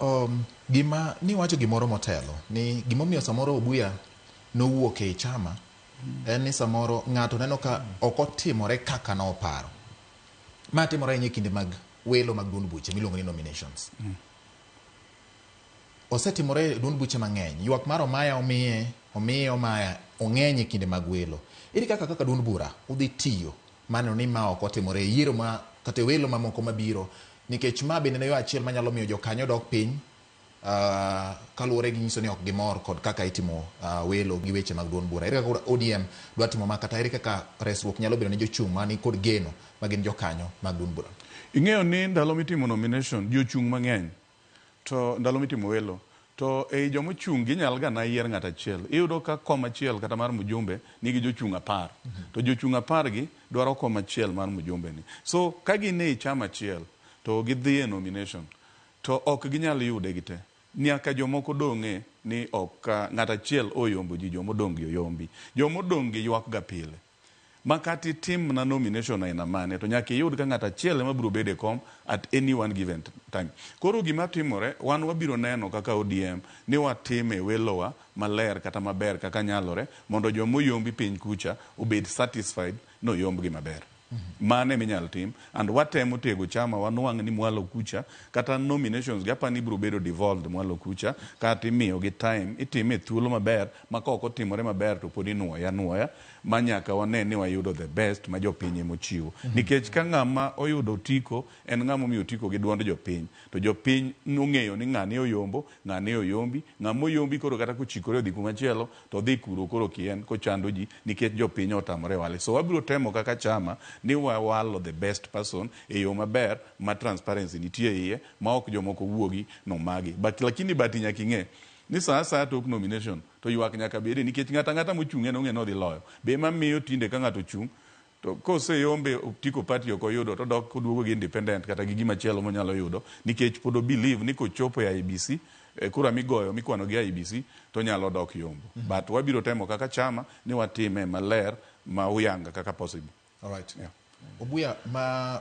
Ooh, gima, niwacho gimoro motelo, ni gimomiyo samoro Obuya nowuok ei chama en ni samoro ng'ato neno ka ok otimore kaka noparo. Ma timore ahinya e kinde mag welo mag duond buche miluongo ni nominations. Osetimore e duond buche mang'eny. Ywak mar Omaya omiye, omiye Omaya, ong'eny e kinde mag welo. Ere kaka kaka duond bura udhi tiyo Mano ni ma ok otimore e yiero ma kata e welo mamoko mabiro, nikech ma bende en yo achiel manyalo miyo jokanyo dok piny kaluwore gi nyiso ni ok gimor kod kaka itimo welo gi weche mag duond bura. Ere kaka ODM dwa timo ma kata ere kaka resruok nyalo bedo ne jochung' mani kod geno magin jokanyo mag duond bura? Ing'eyo ni ndalo mitimo nomination, jochung' mang'eny To ndalo mitimo welo to ei joma ochung' ginyal ga na yier ng'ato achiel. Iyudo ka kom achiel kata mar mjumbe nigi jochung' apar. To jochung' apar gi dwaro kom achiel mar mjumbe ni. So ka gin ei chama achiel to gidhi e nomination to ok ginyal yude gi te. Nyaka jomoko dong'e ni ok ng'ato achiel oyombo ji jomodong' gi oyombi. Jomodong' gi ywak ga pile. Makata itim mana nomination aina mane to nyaka iyud ka ng'ato achiel ema biro bedo e kom at any one given time. Koro gima timore wan wabiro neno kaka ODM ni watimo e welowa maler kata maber kaka nyalore mondo joma oyombi piny kucha obed satisfied ni oyombgi maber. Mano ema inyalo tim and watemo tego chama wanwang' ni mwalo kucha kata nominations gi aparo ni ibiro bedo devolved mwalo kucha kaeto imiyogi time itime e thuolo maber ma ka ok otimore maber to pod inwoye anwoya. ma nyaka wane ni wayudo the best ma jopiny ema ochiwo. Nikech ka ng'ama oyudo otiko en ng'ama omiyo otiko gi duond jopiny to jopiny ong'eyo ni ng'ane oyombo, ng'ane oyombi, ng'ama oyombi koro kata kochikore odhi kuma chielo to odhi kuro koro kien kochando ji nikech jopiny otamore wale. So wabiro temo kaka chama ni wawalo the best person e yo maber ma transparency nitie iye ma ok jomoko wuogi nomagi but lakini but nyaka ing'e ni saa asaya tok nomination To ywak nyaka bede nikech ng'ato ang'ata mochung' en ong'e ni odhi loyo. Be ema miyo tinde ka ng'ato ochung' to kose yombe otiko party ok oyudo to odok oduogo gi independent kata gi gima chielo monyalo yudo nikech pod o believe ni kochopo e IEBC kura migoyo mikwano gi IEBC to onyalo dok yombo. But wabiro temo kaka chama ni watime maler ma huyanga kaka possible. Alright. Yeah. Obuya ma